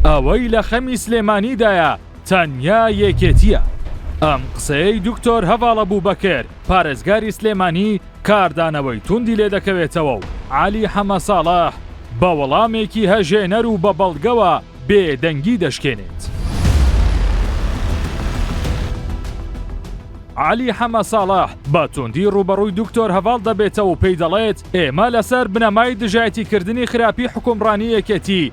ئەوەی لە خەمی سلێمانی دایە تەنیا یەکێتییە. ئەم قسەیەی دکتۆر هەڤاڵە بوبەکر پارێزگاری سلێمانی کاردانەوەی توندی لێ دەکەوێتەوە و عەلی حەمە ساڵح بە وەڵامێکی هەژێنەر و بە بەڵگەوە بێدەنگی دەشکێنێت. عەلی حەمە ساڵح بە توندی ڕووبەڕووی دکتۆر هەڤاڵ دەبێتەوە و پێی دەڵێت، ئێمە لەسەر بنەمای دژایەتیکردنی خراپی حکومڕانی یەکێتی،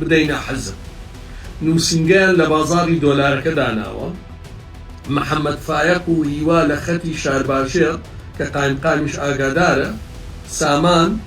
بدەینە حزب نوسینگەیان لە بازاڕی دۆلارەکە داناوە محمد فایەق و هیوا لە خەتی شارباژێڕ کە قایمقامیش ئاگادارە سامان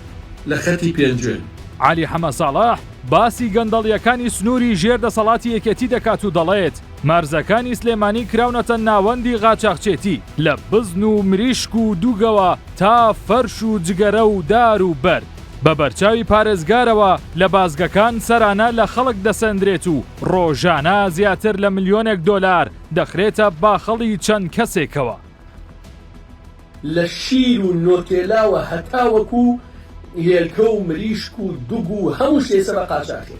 لە خەتی پێنجوێن. عەلی حەمە ساڵح باسی گەندەڵیەکانی سنوری ژێر دەسەڵاتی یەکێتی دەکات و دەڵێت، مەرزەکانی سلێمانی کراونەتە ناوەندی غاچاخچێتی لە بزن و مریشک و دوگەوە تا فەرش و جگەرە و دار و بەرد. بە بەرچاوی پارێزگارەوە لە بازگەکان سەرانە لە خەڵک دەسەندرێت و ڕۆژانە زیاتر لە ملیۆنێک دۆلار دەخرێتە باخەڵی چەند کەسێکەوە. لە شیر و نۆتێلاوە هەتاوەکو هێلکە و مریشک و دوگ و هەموو شتێ سەبە قاچاخی.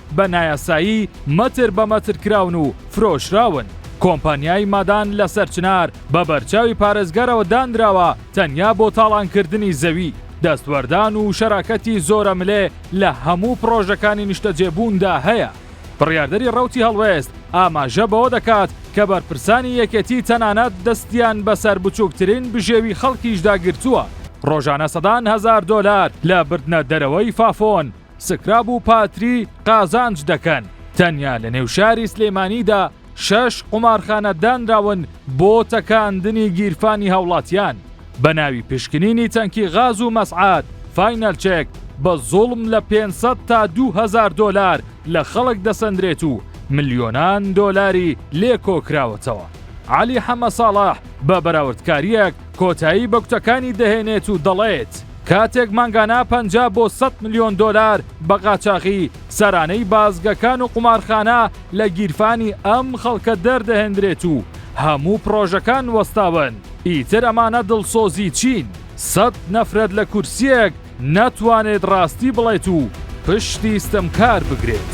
بە نایاسایی مەتر بە مەتر کراون و فرۆشراون. کۆمپانیای مادان لە سەرچنار بە بەرچاوی پارێزگارەوە دانراوە تەنیا بۆ تاڵانکردنی زەوی، دەستوەردان و شەراکەتی زۆرەملێ لە هەموو پڕۆژەکانی نیشتەجێبووندا هەیە. بڕیاردەری ڕەوتی هەڵوێست ئاماژە بەوە دەکات کە بەرپرسانی یەکێتی تەنانەت دەستیان بەسەر بچووکترین بژێوی خەڵکیشدا گرتووە، ڕۆژانە سەدان هەزار دۆلار لە بردنە دەرەوەی فافۆن سکراب و پاتری قازانج دەکەن تەنیا لە نێو شاری سلێمانیدا شەش قومارخانە دانراون بۆ تەکاندنی گیرفانی هاوڵاتیان بە ناوی پشکنینی تەنکی غاز و مەسعات فاینەل چێک بە زوڵم لە 500 تا 2000 دۆلار لە خەڵک دەسەندرێت و ملیۆنان دۆلاری لێ کۆکراوەتەوە علی حەمە ساڵح بە بەراوردکاریەک کۆتایی بە کوتەکانی دەهێنێت و دەڵێت کاتێک مانگانە پەنجا بۆ سەد ملیۆن دۆلار بە قاچاخی سەرانەی بازگەکان و قومارخانە لە گیرفانی ئەم خەڵکە دەردەهێندرێت و هەموو پڕۆژەکان وەستاون ئیتر ئەمانە دڵسۆزی چین سەد نەفرەت لە کورسیەک نەتوانێت ڕاستی بڵێت و پشتی ستەمکار بگرێت.